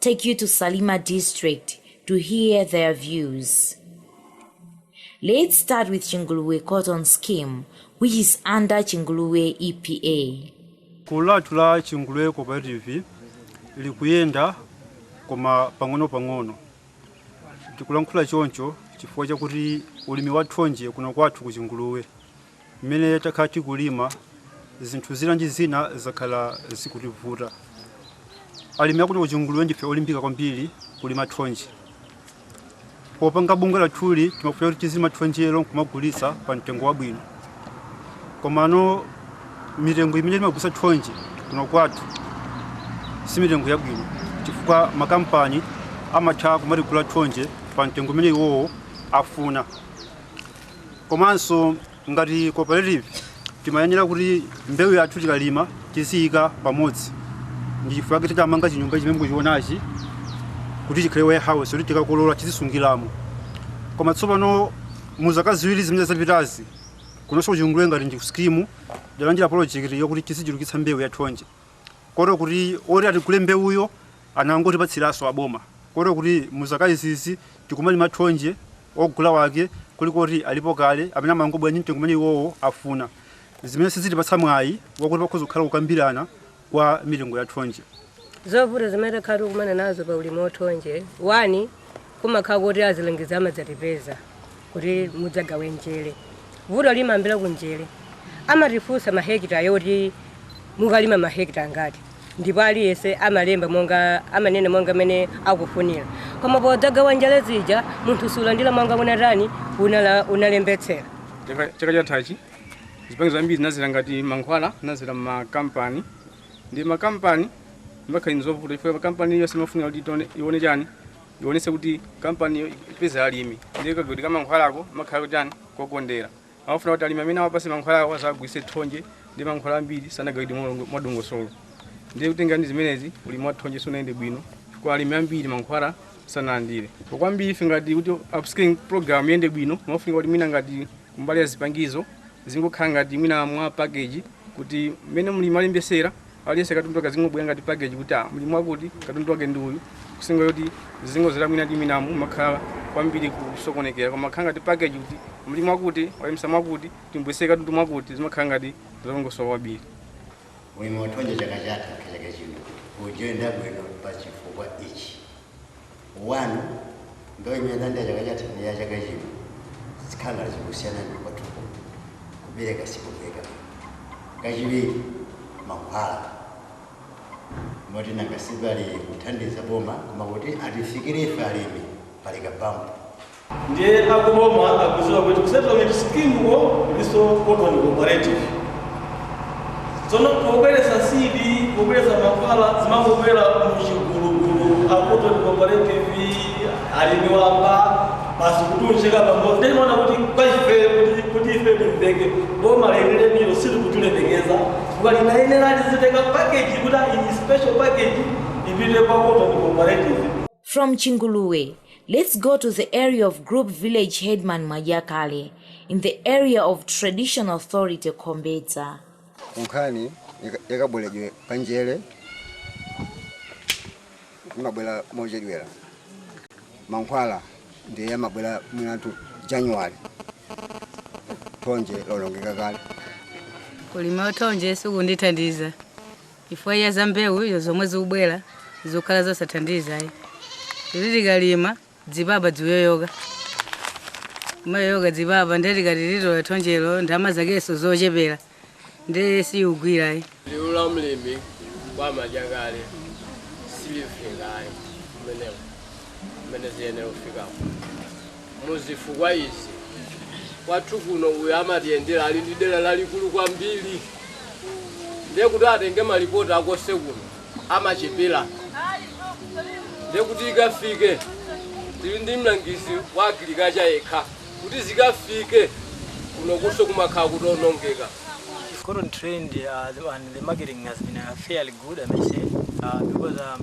take you to Salima district to hear their views. Let's start with Chinguluwe cotton scheme, which is under Chinguluwe EPA. Gulu lathu la Chinguluwe cooperative likuyenda koma pang'ono-pang'ono. Tikulankhula choncho chifukwa chakuti ulimi wa thonje kuno kwathu ku Chinguluwe Mmene takhala tikulima, zinthu zina ndi zina zakhala zikutivuta. Alimi akuno ku Chinguluwe ndife olimbika kwambiri kulima thonje. Popanga bungwe lathuli timafuna kuti tizilima thonjelo nkumagulitsa pa mtengo wabwino. Komano mitengo imene timagulitsa thonje kuno kwathu si mitengo yabwino chifukwa makampani amatha kumatigula thonje pa mtengo umene iwowo afuna. Komanso ngati cooperative timayenera kuti mbewu yathu tikalima tiziyika pamodzi. Ndi chifukwa chake tidamanga chinyumba chimene mukuchionachi kuti chikhale warehouse yoti tikakolola tizisungiramo. Koma tsopano mu zaka ziwiri zimene zapitazi, kunonso ku Chinguluwe ngati ndi sikimu, tidalandira polojekiti yakuti tizichulukitsa mbewu ya thonje. kotero kuti oti atigule mbewuyo anangotipatsiranso aboma kotero kuti mu zaka izizi tikumalima thonje ogula wake kuli kuti alipo kale amene amangobwera ndi mtengo umene iwowo afuna zimene sizitipatsa mwayi wakuti pakhoza kukhala kukambirana kwa mitengo ya thonje. Zovuta zimene takhala tikumana nazo pa ulimi wa thonje, 1 Kumakhala kuti azilangizi amadzatipeza kuti mudzagawe njere. Vuto limayambira ku njere. Amatifunsa mahekita yoti mukalima mahekita angati ndipo aliyense amalemba monga amanena monga amene akufunira. Koma podzagawa njere zija munthu sulandira monga unatani unala, unalembetsera. Chaka chathachi zipangizo zambiri zinadzera ngati mankhwala, zinadzera m'makampani. ndi makampani zimakhala ndi zovuta chifukwa makampani iliyonse imafunika kuti itione- ione chani ionetse kuti kampaniyo ipeza alimi ndiye kagawidwe ka mankhwalako amakhala kuti chani kokondera amafuna kuti alimi amene awapase mankhwalawo azagulitse thonje ndiye mankhwala ambiri sanagawidwe molongo- mwadongosolo ndiye kutenga ndi zimenezi ulimi wa thonje sunayende bwino chifukwa alimi ambiri mankhwala sanalandire kwambiri ife ngati kuti upscaling program iyende bwino amafunika kuti mwina ngati Kumbali ya zipangizo, zizingokhala ngati mwina mwa package kuti mmene mlimi alembesera aliyense katundu wake azingobwera ngati package kuti ah, mlimi wakuti katundu wake ndi uyu kusiyana nkuti zingozera mwina ndi mwinamo mumakhala kwambiri kusokonekera koma ikakhala ngati package kuti mlimi wakuti walembesa mwakuti timbweretsere katundu mwakuti zimakhala ngati zolongosoka kwambiri Ulimi wathonje chaka chatha kachaka chino sukuyenda bwino pa chifukwa ichi. 1 ndo imene adalandira chaka chatha ndi ya chaka chino zikhala ngati zikusiyana ndi kwathuko kubereka sikubereka kachiwiri mankhwala moti nanga sipali kuthandiza boma koma kuti atifikire ife alimi pali kaphompho Ndiye a ku boma akudziwa kuti ku settlement scheme ko kulinso cotton cooperative. Tsono pobweretsa seed, pobweretsa mankhwala zimangobwera mu chigulugulu, a cotton cooperative, alimi wamba, basi kutiunjika pamodzi. Ndiye timaona kuti kwa ifeyo kuti, kuti ife timveke, boma lenilenilo silikutilemekeza chifukwa linayenera lizitenga package kuti ah iyi special package ipite kwa cotton cooperative. From Chinguluwe, let's go to the area of Group Village Headman Mwadyakale in the area of Traditional Authority Khombedza. kunkhani yaka- yakabweredwe ka njere imabwera mochedwera mankhwala ndiye amabwera mwinatu january thonje lolongeka kale kulima uthonje sikundithandiza chifukwa cha za mbewu izo zomwe zikubwera zikukhala zosathandiza ayi kuti tikalima dzipapa dzikuyoyoka kumayoyoka dzipapa ndiye tikati titola thonjelo ndalama zakenso zochepera ndiye siyigwira ayi liwu la mlimi kwa mwadyakale silifika ayi kumeneko kumene ziyenera kufikako muzifukwa izi kwathu kuno uyu amatiyendera ali ndi dera lalikulu kwambiri ndiye kuti atenge malipoti akose kuno amachepera ndiye kuti ikafike tili ndi mlangizi wa agirikacha yekha kuti zikafike kuno kuso kumakhala kutaonongeka It's current trend uh, and the marketing has been uh, fairly good, I may say, uh, because um,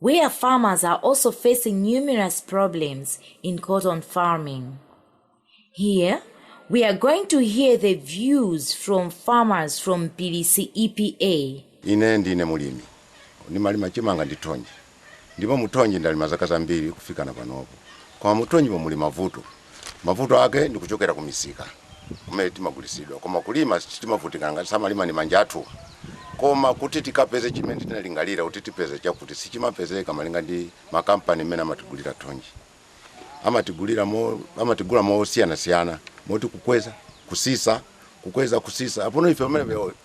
where farmers are also facing numerous problems in cotton farming. Here, we are going to hear the views from farmers from Mpilisi EPA. Ine ndine mulimi ndimalima chimanga ndi thonje ndipo muthonje ndalima zaka zambiri kufikana panopo koma muthonjemo muli mavuto Mavuto ake ndi kuchokera ku misika kumene timagulitsidwa koma kulima timavutika nanga si timalima ndi manja athu koma kuti tikapeze chimene tinalingalira kuti tipeze chakuti sichimapezeka malinga ndi makampani mmene amatigulira thonje amatigulira mo amatigula mosiyanasiyana moti kukweza kusisa kukweza kusisa apono ife pamene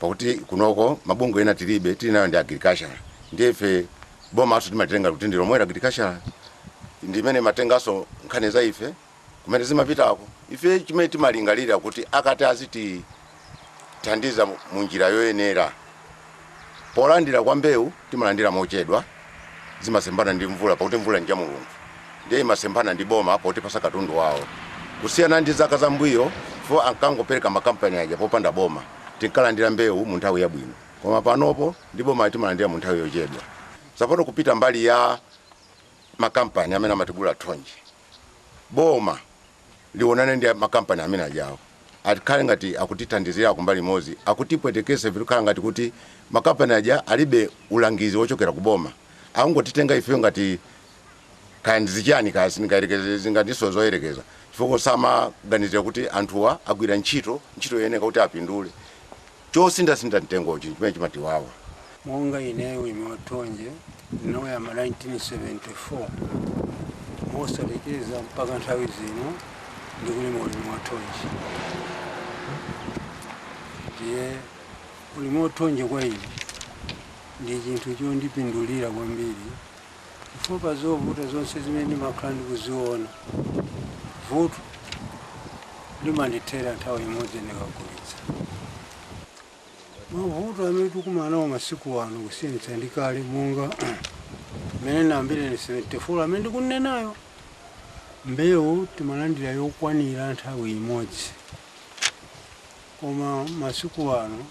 pakuti kunoko mabungwe ena tilibe tili nayo ndi agriculture ndiye ife bomaso timalitenga kuti ndi lomweli agriculture ndi imene imatenganso nkhani za ife kumene zimapitako ife chimene timalingalira kuti akati azitithandiza mu njira yoyenera polandira kwa mbewu timalandira mochedwa zimasemphana ndi mvula pakuti mvula ndi ya mulungu ndiye imasemphana ndi boma pakutipasa katundu wawo kusiyana ndi zaka zambuyo po ankangopereka makampani aja popanda boma tinkalandira mbewu mu nthawi yabwino koma panopo ndi boma timalandira mu nthawi yochedwa tsopano kupita mbali ya makampani amene amatigula thonje boma lionane ndi makampani amene ajawo akhale ngati akutithandizira kumbali imodzi, akutipwetekesa zikukhala ngati kuti makampani aja alibe ulangizi wochokera ku boma, akungotitenga ifeyo ngati kaya ndi zichani kaya sindingathenso zoyerekeza chifukwa samaganizira kuti anthuwa agwira ntchito, ntchito yoyeneka kuti apindule. Chosinthasintha mtengochi n'chimene chimatiwawa. Monga ineyo ulimi wa thonje ndinauyamba 1974 mosalekeza mpaka nthawi zino ndikulima ulimi wa thonje. Ndiye ulimi wa thonje kwa ine ndi chinthu chondipindulira kwambiri. chifukwa pa zovuta zonse zimene ndimakhala ndikuziona, vuto limandithera nthawi imodzi ndikagulitsa. Mavuto amene tikumana nawo masiku ano kusiyanitsa ndi kale monga mmene ndinayambira 1974 amene ndikunenayo, mbewu timalandira yokwanira nthawi imodzi koma masiku ano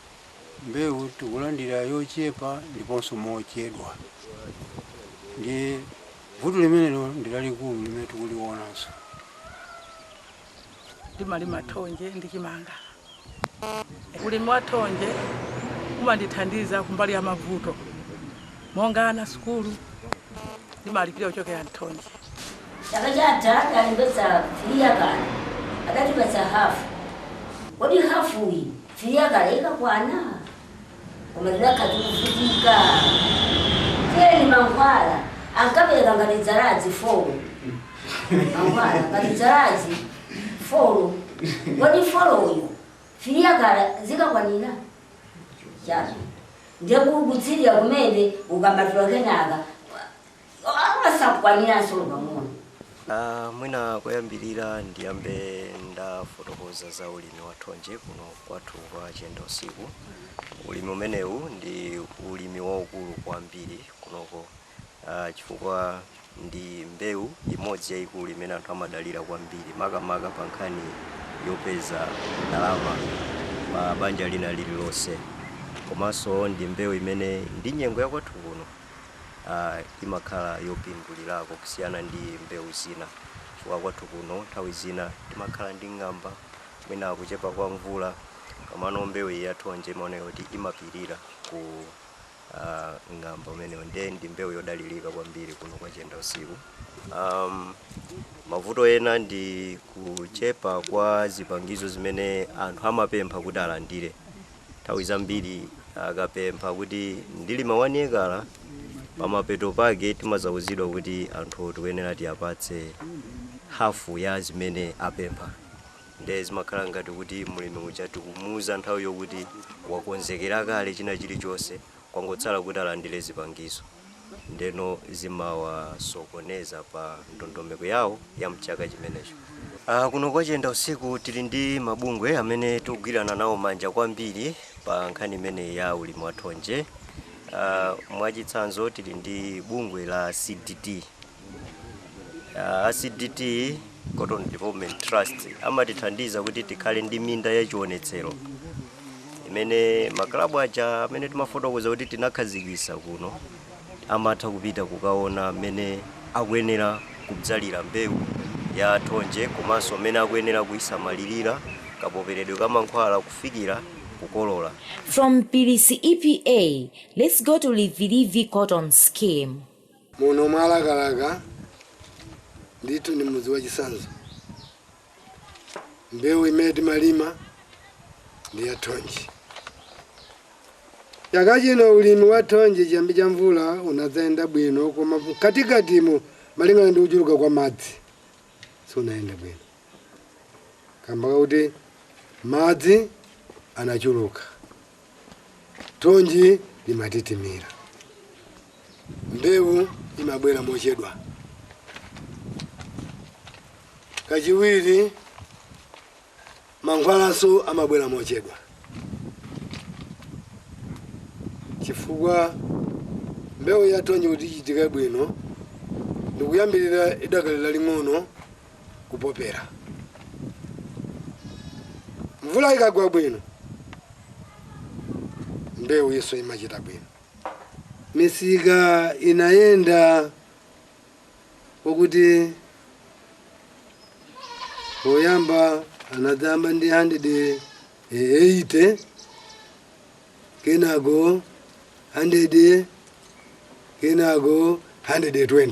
mbewu tikulandira yochepa ndiponso mochedwa ndiye vuto limenelo ndi lalikulu limene tikulionanso. Ndimalima thonje ndi chimanga. Ulimi wa thonje umandithandiza kumbali ya mavuto monga ana sukulu ndimalipira kuchokera m'thonje. Chaka chatha adalembetsa 3 ekala adatipatsa hafu. Kodi hafuyi 3 ekala ikakwana koma tidakhala tikuvutika. Kenaka mankhwala ankapereka ngati dzaladzi folo. Mankhwala ngati dzaladzi folo. Kodi foloyo 3 ekala zikakwanira? Chabwino. Ndiye ku- kutsilira kumene ukampatula kenaka Amakhala sakukwaniranso olo pang'ono. Mwina koyambilira ndiyambe ndafotokoza za ulimi wa thonje kuno kwathu kwa Chiyendausiku. Ulimi umenewu ndi ulimi waukulu kwambiri kunoko chifukwa ndi mbewu imodzi yaikulu imene anthu amadalira kwambiri makamaka pa nkhani yopeza ndalama pa banja lina lililonse komanso ndi mbewu imene ndi nyengo ya kwathu kuno. imakhala yopindulirako kusiyana ndi mbewu zina chifukwa kwathu kuno nthawi zina timakhala ndi ng'amba mwina kuchepa kwa mvula komano mbewu iyi ya thonje imaoneka kuti imapirira ku ah, ng'amba umenewo nde ndi mbewu yodalirika kwambiri kuno kwa Chiendausiku um, mavuto ena ndi kuchepa kwa zipangizo zimene anthu amapempha kuti alandire Nthawi zambiri akapempha kuti ndilima wani ekala, pamapeto pake timazauzidwa kuti anthuwo tikuyenera tiwapatse hafu ya zimene apempha. Nde zimakhala ngati kuti mlimi uja tikumuuza nthawi yokuti wakonzekera kale china chilichonse kwangotsala kuti alandire zipangizo ndeno zimawasokoneza pa ndondomeko yawo ya mchaka chimenecho. Aaa kuno kwa Chiendausiku tili ndi mabungwe amene tikugwirana nawo manja kwambiri pa nkhani imeneyi ya ulimi wa thonje. Aaa mwachitsanzo tili ndi bungwe la CDT A CDT, Cotton Development Trust, amatithandiza kuti tikhale ndi minda ya chionetsero imene maklabu aja amene timafotokoza kuti tinakhazikitsa kuno amatha kupita kukaona mmene akuyenera kudzalira mbewu ya thonje komanso mmene akuyenera kuisamalirira, kapoperedwe ka mankhwala kufikira kukolola. From Mpilisi EPA, let's go to Rivirivi Cotton Scheme. Muno mwa Lakalaka ndithu ndi mudzi wachitsanzo. Mbewu imene timalima ndi ya thonje. Chaka chino ulimi wa thonje chiyambi cha mvula unadzayenda bwino koma mkatikatimu malingana ndi kuchuluka kwa madzi sunayenda bwino kamba kakuti madzi anachuluka. Thonje limatitimira. Mbewu imabwera mochedwa. Kachiwiri, mankhwalaso amabwera mochedwa chifukwa mbewu ya thonje kuti ichitike bwino ndikuyambirira idakali laling'ono kupopera. Mvula ikagwa bwino, mbewuyiso imachita bwino. Misika inayenda kwakuti poyamba anadzayamba ndi 180. kenako 100 kenako 120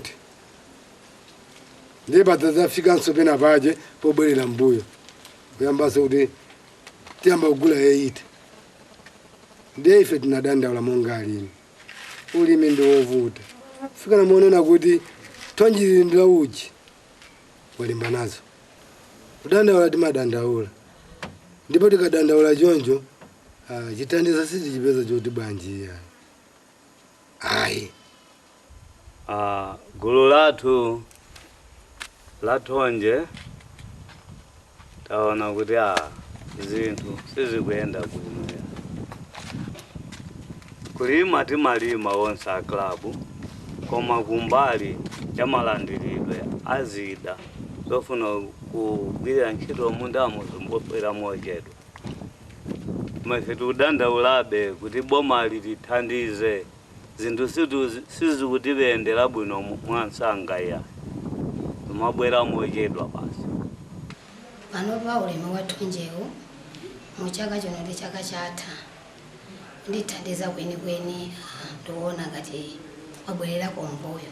ndiye padzafikanso pena paja pobwerera mbuyo kuyambanso kuti tiyamba kugula 80 ndiye ife tinadandaula monga alimi ulimi ndi wovuta fikana monena kuti thonjeli ndi la ujeni walimba nazo kudandaula timadandaula ndipo tikadandaula choncho Ah, chithandizo sitichipeza choti bwanji iya. Ayi. Ah, gulu lathu la thonje taona kuti a zinthu sizikuyenda bwino ya. kulima timalima onse a klabu koma kumbali ya malandiridwe a zida zofuna kugwirira ntchito mundamo zimabwera mochedwa Koma ife tikudandaulabe kuti bomali litithandize, zinthu sizikutiyendera bwino mwansanga iyayi, zimabwera mochedwa basi. Panopa ulimi wa thonjewu mu chaka chino ndi chaka chatha kundithandiza kwenikweni, aa ndikuona ngati wabwererako m'mbuyo.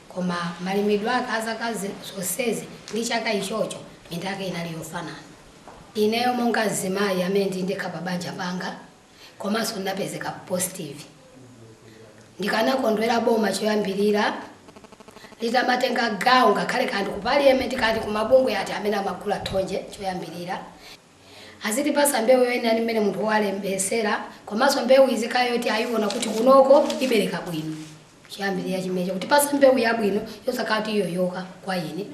Koma malimidwe ake a zaka zonsezi ndi chaka ichocho, minda yake inali yofanana. Ineyo monga mzimayi amene ndili ndekha pa banja panga komanso ndinapezeka positive, ndikanakondwera boma choyambirira litamatenga gawo ngakhale kaya ndi ku paliyamenti kaya ndi ku mabungwe ati amene amagula thonje choyambirira. Azitipasa mbewu yoyenera ndi mmene munthu walembetsera komanso mbewu izikhala yoti ayiwona kuti kunoko ibereka bwino choyambirira chimenecho kutipasa mbewu yabwino yosakhala kuti iyoyoka kwa ine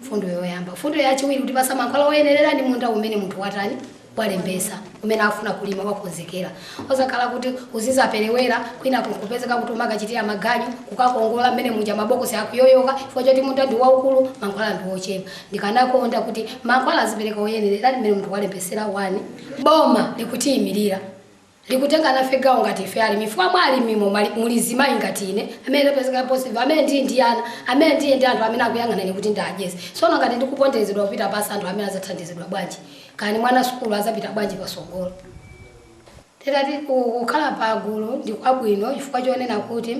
mfundo yoyamba mfundo yachiwiri kutipasa mankhwala oyenerera ndi munda umene munthu watani walembetsa umene afuna kulima wakonzekera osakhala kuti uzizaperewera kwina kunkupezeka kuti umakachitira maganyu kukakongola mmene muja mabokosi akuyoyoka chifukwa choti munda ndi waukulu mankhwala ndi ochepa Ndikanakonda kuti mankhwala azipereka oyenerera ndi mmene munthu walembetsera 1 Boma likutiyimirira likutenga nafe gawo ngati ife alimi chifukwa mwa alimimo muli azimayi ngati ine amene ndapezeka positive amene ndili ndi ana amene ndili ndi anthu amene akuyang'ana ine kuti ndiwadyetse tsono ngati ndikuponderezedwa kupita pansi anthu amenewa azathandizidwa bwanji kani mwana sukulu azapita bwanji patsogolo Nditati kukhala pagulu ndi kwabwino chifukwa chonena kuti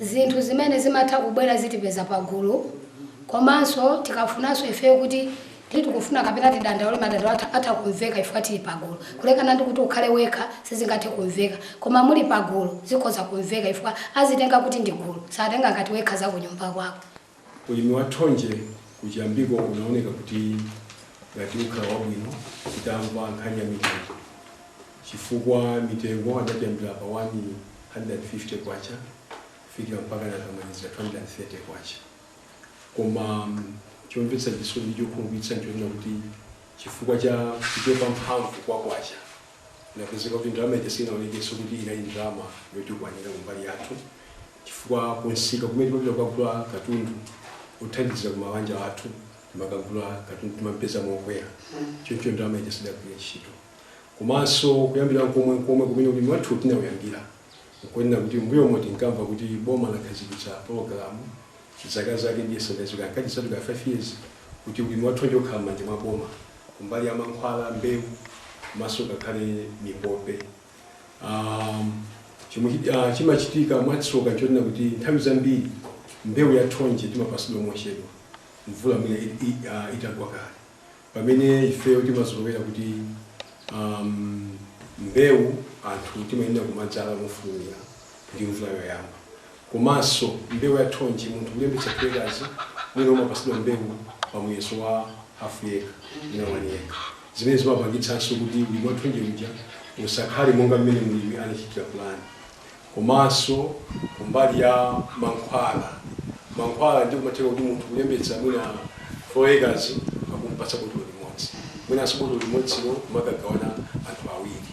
Zinthu zimene zimatha kubwera zitipeza pagulu komanso tikafunanso ifeyo kuti tikufuna kapena tidandaule madandaulo atha kumveka chifukwa tili pagulu kulekana ndi kuti ukhale wekha sizingathe kumveka koma muli pagulu zikhoza kumveka chifukwa azitenga kuti ndi gulu satenga ngati wekha zakunyumba kwako. Ulimi wa thonje kuchiyambiko unaoneka kuti ngati ukhala wabwino titamva nkhani ya mitengo chifukwa mitengo adatiyambira pa K150 kufikira mpakana anamalizira K230. Koma chomvetsa chisoni ndi chokhumudwitsa nchoona kuti chifukwa cha kuchepa mphamvu kwa kwacha, Inapezeka kuti ndalama ija siinaonekenso kuti inali ndalama yotikwanira kumbali yathu chifukwa kumsika kumene timapita kukagula katundu wothandizira ku mabanja athu, timakagula katundu timampeza mokwera choncho ndalama ija sidagwire ntchito. Komanso kuyambira nkomwe nkomwe kumene ulimi wathuwu tinauyambira nkonena kuti m'mbuyomo tinkamva kuti boma lakhazikitsa pologalamu zaka zake ndiye sindinadziwe, ankati idzatengera 5 years kuti ulimi wa thonje ukhala m'manja mwa boma. kumbali ya mankhwala, mbewu komanso ngakhale mipope. Chomwe chimachitika mwatsoka nchonena kuti nthawi zambiri mbewu ya thonje timapasidwa mochedwa mvula mwina itagwa kale pamene ifeyo timazolowera kuti mbewu ya thonje timayenera kumadzala mofulumira ndi mvula yoyamba. komanso mbewu ya thonje munthu kulembetsa 2 ekazi mwina umapasidwa mbewu pa muyeso wa hafu eka mwina wani eka zimene zimapangitsanso kuti ulimi wa thonje uja usakhale monga mmene mulimi anachitila pulani komanso kumbali ya mankhwala mankhwala ndiye kumatheka kuti munthu kulembetsa mwina 4 ekazi akumpatsa botolo limodzi mwinanso botolo limodzilo kumakagawana anthu awiri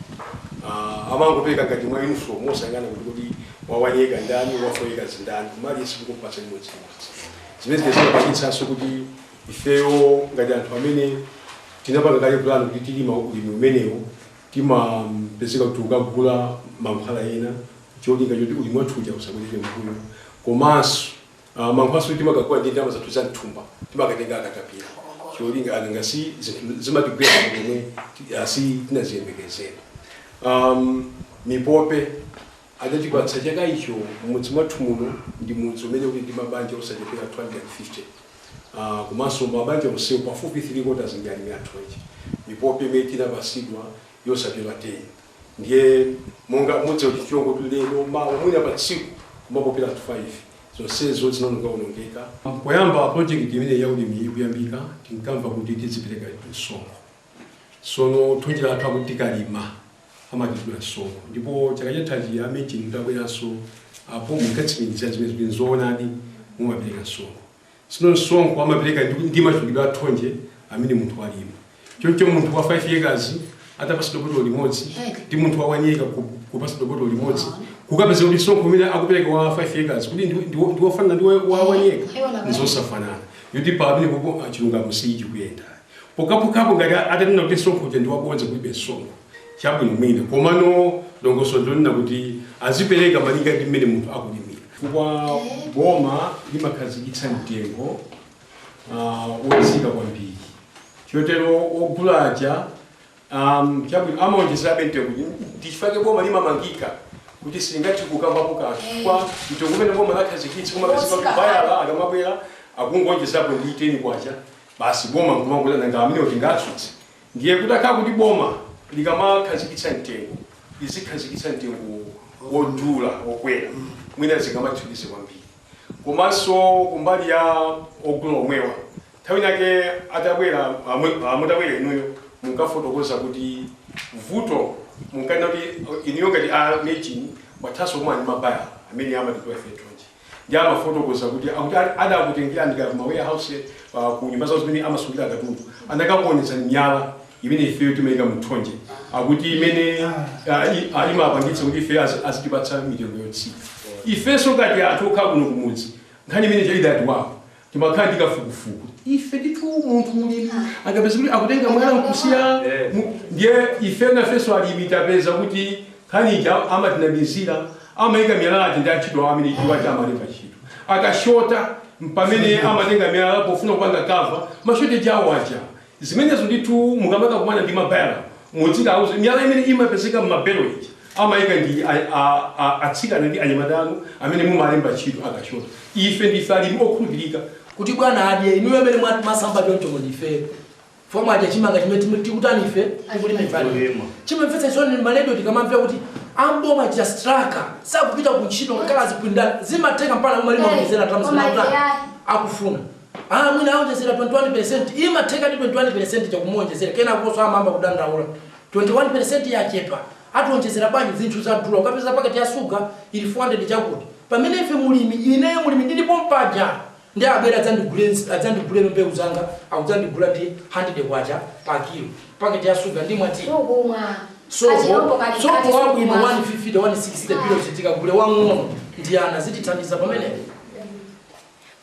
amangopereka ngati mwa yunifomu osayang'ana kuti kodi Wa wani eka ndani? Wa 4 ekazi ndani? Koma aliyense mukumpatsa chimodzimodzi. Zimene zija zimapangitsanso kuti ifeyo ngati anthu amene tinapanga kale plan kuti tilima ulimi umenewu, timapezeka kuti tikukagula mankhwala ena n'cholinga choti ulimi wathu uja usabwerere m'mbuyo. Komanso mankhwalanso timakagula ndi ndalama zathu za m'thumba, timakatenga katapira cholinga nanga si zinthu zimatigwera pa nyengo yomwe si tinaziyembekezere. Mipope. Adatipatsa chaka icho m'mudzi mwathu muno ndi mudzi umene uli ndi mabanja osachepera 250 komanso mabanja onsewo pafupi 3 quarters ndi alimi a thonje mipope imene tinapasidwa yosapyola 10 ndiye monga mudziwa kuti chiwongo tu lero mawa mwina pa tsiku kumapopera 5 zonsezo zinaonongaonongeka. Poyamba project imeneyi ya ulimiyi ikuyambika tinkamva kuti tidzipereka msonkho sono thonje lathu akuti tikalima amatidula msonkho ndipo chaka chathachi a MEJN mutabweranso apo munkatsimikizira zimenezi kuti nzoonadi mumapereka msonkho. Tsono msonkho amapereka ndi ndi machulukidwe a thonje amene munthu walima. Choncho munthu wa 5 acres atapatsidwa botolo limodzi ndi munthu wa 1 acre ku- kupatsidwa botolo limodzi kukapeza kuti msonkho umene akupereka wa 5 acres kuti ndi- ndi- ndi wofanana ndi wa wa 1 acre nzosafanana. Yoti pamenepopo ah, chilungamo sichikuyenda. Pokhapokhapo ngati atanena kuti msonkho uja ndi wabodza kulibe msonkho, chabwino mwina, komano dongosolo ndi lonena kuti azipereka malinga ndi mmene munthu akulimira. Chifukwa boma limakhazikitsa mtengo wotsika kwambiri chotero ogula aja, chabwino amaonjezerabe mtengo uja. Ndi chifukwa chake boma limamangika kuti silingathe kukambapo kanthu chifukwa mtengo umene boma lakhazikitsa umakhala kuti bayala akamabwera akungoonjezapo ndi K10, basi boma nkumangonena nanga amenewo tingatsutse? ndiye kutakhala kuti boma likamakhazikitsa mtengo lizikhazikitsa mtengo wodula wokwera mwina zingamathandize kwambiri komanso kumbali ya ogula omwewa nthawi inayake atabwera amwe- mutabwera inuyo munkafotokoza kuti vuto munkanena kuti inuyo ngati a MEJN mwathanso kukumana ndi mabaya amene amatigula ife thonje Ndiye amafotokoza kuti akuti adakutengerani kaya ku ma warehouse uh, ku nyumba zawo zimene amasungira katundu anakakuonetsani miyala imene ifeyo timayika mu thonje akuti imene uh, imapangitsa kuti ifeyo azitipatsa mitengo yotsika ifenso ngati anthu okhala kuno kumudzi nkhani imene ija idatiwawapo Timakhala ndi kafukufuku ife ndithu munthu mulimi angapeze kuti akutenga mwala nkusiya mu- ndiye ife nafenso alimi tapeza kuti nkhani ija amatinamizira amaika miyala aja ndi antchito awo amene iwo aja amalemba ntchito akashota mpamene amatenga miyala pofuna kupanga kava mashoteji awo aja zimenezo ndithu mukamakakumana ndi mabaya mudzikawauze miyala imene imapezeka mmabelo ija amaika ndi a, a, a, atsikana ndi anyamata anu amene mumalemba ntchito akashota ife ndife alimi okhulupirika kuti bwana adye inuyo amene mwati masamba choncho kodi ife fomwe adya chimanga chimene timu- tikutani ife tikulimipani Kulima. zimamvetsa chisoni maledio tikamamvera kuti amboma achita straka sakupita ku ntchito ngakhale azipinda zimatheka mpaka umalima mizera tamzinakuta akufuna Aa mwina aonjezera 21 peresenti, imathekadi 21 peresenti ija kumuonjezera kenakonso amayamba kudandaula 21 peresenti yachepa ationjezera bwanji zinthu zadula ukapeza paketi ya suga ili 400 chakuti pamene ife mulimi ineyo mulimi ndili pompaja nde abwere adzandigule adzandigulebe mbewu zanga akudzandigula ndi 100 kwacha pa kilo paketi ya suga ndimwa ti Sukumwa. sopo Kachilombo kali sopo kati wabwino sukumwa. 150 160 bilo chitika gule wang'ono ndi ana zitithandiza pamenepo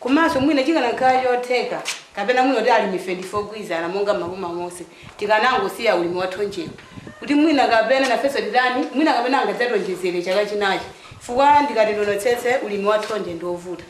Komanso mwina chikanakhala chotheka kapena mwina kuti alimife ndife ogwirizana monga m'maboma monse, tikanangosiya ulimi wa thonjewu kuti mwina kapena nafenso atitani, mwina kapena angadzatiwonjezere chaka chinachi chifukwa ndikati ndionetsetse ulimi wa thonje ndi wovuta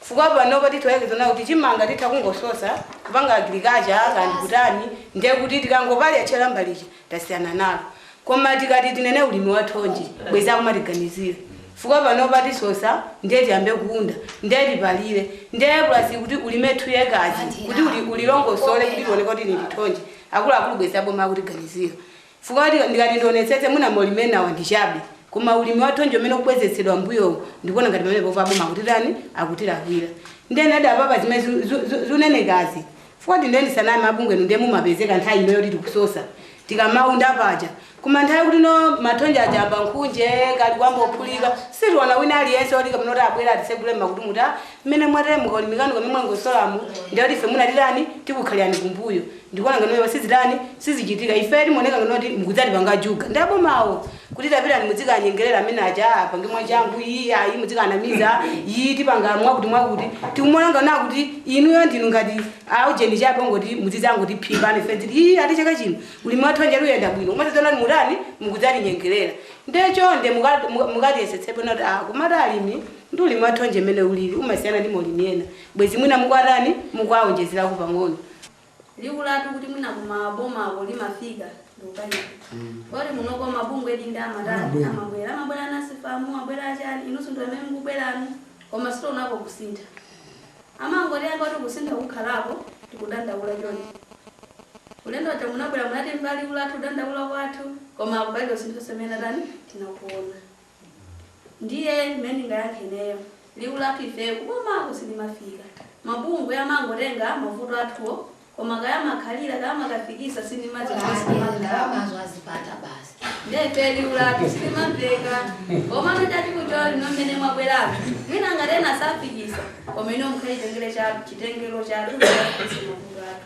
chifukwa panopa titha kuyembekeza kunena kuti chimanga titha kungososa kupanga agriculture kaya ndikutani ndiye kuti tikangopalira tchela mbali ija tasiyana nalo koma tikati tinene ulimi wa thonje bwezi akumatiganizira chifukwa panopa tisosa ndiye tiyambe kuunda ndiye tipalire ndiye plus kuti ulime two acres kuti uli- ulilongosole kuti tioneke kuti ili ndi thonje akuluakulu bwezi aboma akutiganizira chifukwa kuti ndikati ndionetsetse mwina maulimi enawa ndi chabe koma ulimi wa thonje umene ukubwezetsedwa mbuyowu ndikuona ngati pamenepo a- aboma akutitani akutilakwira ndiye nadi apapa zimene zi- zi- zi- zikunenekazi Chifukwa ndiye ndisaname mabungwe inu ndiye mumapezeka nthawi ino yoti tikusosa tikamaunda paja koma nthawi yoti ino mathonje aja ayamba nkhunje kaya akuyamba kuphulika sitiona wina aliyense oti kapena kuti abwera atitsegule mmakutu kuti ah mmene mwatere mukalimikira kamene mwalongosolamu ndiye kuti ife mwina titani tikukhalirani kumbuyo ndikuona ngati izo sizitani sizichitika ife timaoneka ngati kuti mukudzatipanga juga ndi abomawo kuti tapitani mudzikanyengerera amene aja apange mwachangu iyi ayi mudzikanamiza iyi tipanga mwakuti mwakuti tikumaona ngati kuti inuyo ndinu ngati aujeni chabe ongoti muzidzangotiphimba ife tili iyi ati chaka chino ulimi wa thonje uyenda bwino umadzadzana mutani mukudzatinyengerera ndiye chonde muka- muka- mukatiyesetsepo nati ah kumati alimi ndi ulimi wa thonje mmene ulili umasiyana ndi maulimi ena bwezi mwina mukuwatani mukuwaonjezerako pang'ono liwu lathu kuti mwina kumabomako limafika ndikukayika poti munoko mabungwe eedi amatani Amabwera. amabwera amabwera anasifamu abwera achani inunso ndi amene mukubwerani koma sitionako kusintha amangotinena kuti kusintha kukhalako tikudandaula chonde ulendo watha munabwera munatenga liwu lathu kudandaula kwathu koma palibe kusintha kumene titani tinakuona Ndiye mmene ndingayankhe ineyo liwu lathu ifeyo kubomako silimafika. Mabungwe amangotenga mavuto athuwo koma kaya amakhalira kaya amakafikitsa sindimadziwa chifukwa sitimakhalapo. Ndiye ifeyo liwu lathu silimamveka. Komano chachikulu chili ino mmene mwabweramu mwina ngati ena safikitsa koma inuyo mukhale chotengera chathu kuti akafikitse mavuto athu.